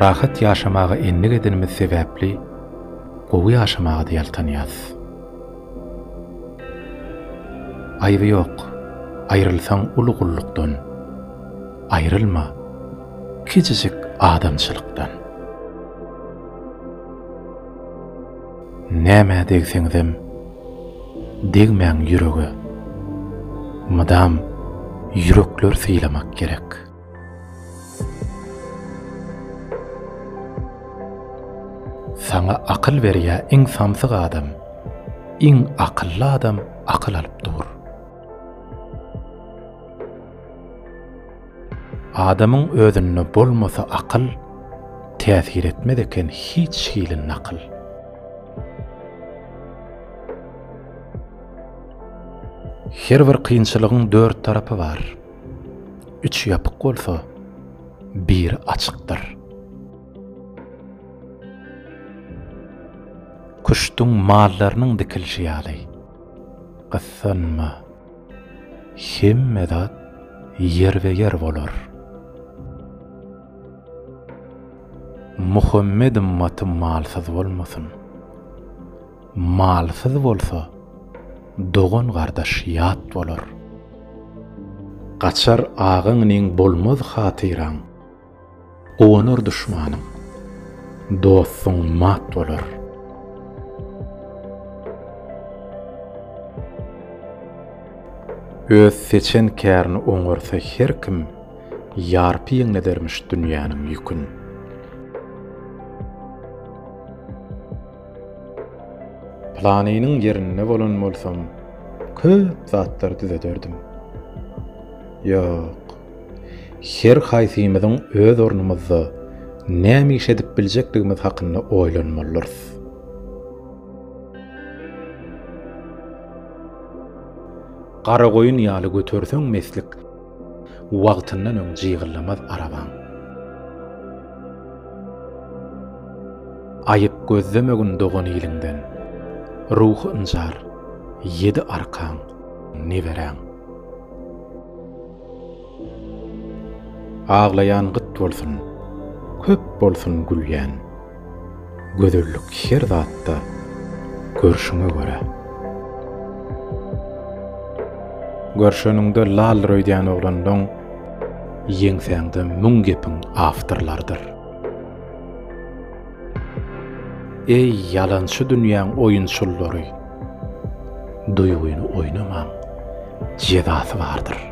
Rahat ýaşamaga endik edenimiz sebäpli gowy ýaşamaga-da ýaltanýarys. Aýby ýok, aýrylsaň uly gullukdan, aýrylma kijijik adamçylykdan. Nämä degseňizem, degmäň ýürege. Mydam ýürekler sylamak gerek. Saňa akyl berýä iň samsyk adam, iň akylly adam akyl alyp dur. Adamyň özünde bolmasa akyl, Täsir etmez eken hiç hili nakyl. Her bir kynçylygyň dört tarapy bar, Üç ýapyk bolsa, biri açykdyr. Küştüň mallarynyň dikilişi ýaly, Gyssanma! Hemme zat ýerbe-ýer bolar. Muhammed ymmaty malsyz bolmasyn. Malsyz bolsa, dogan-gardaş ýat bolar. Gaçar agaňyň bolmaz hatyraň. Guwanar duşmanyň, dostuň mat bolar. Öz seçen kärini oňarsa her kim, ýarpy ýeňledermiş dünýäniň ýükün. Planynyň ýerinde bolan bolsam, köp zatlar düzederdim. Ýok. Her haýsymyzyň öz ornumyzda näme iş edip biljekdigimiz hakynda oýlanmalyrys. Garagoýun ýaly göterseň meslik, wagtyndan öň jygyllamaz arabaň. Aýyp gözlemegin dogan iliňden, ruhy ynjar, ýedi arkaň, neberäň. Aglaýan gyt bolsun, köp bolsun gülýän. Gözellik her zatda, görşüňe görä. Görşeniňde lal röýdýän oglanlaň ýeňsäňde müň gepiň awtorlarydyr. Eý, ýalançy dünýäň oýunçyllary! Duýgyny oýnamaň, jezasy bardyr.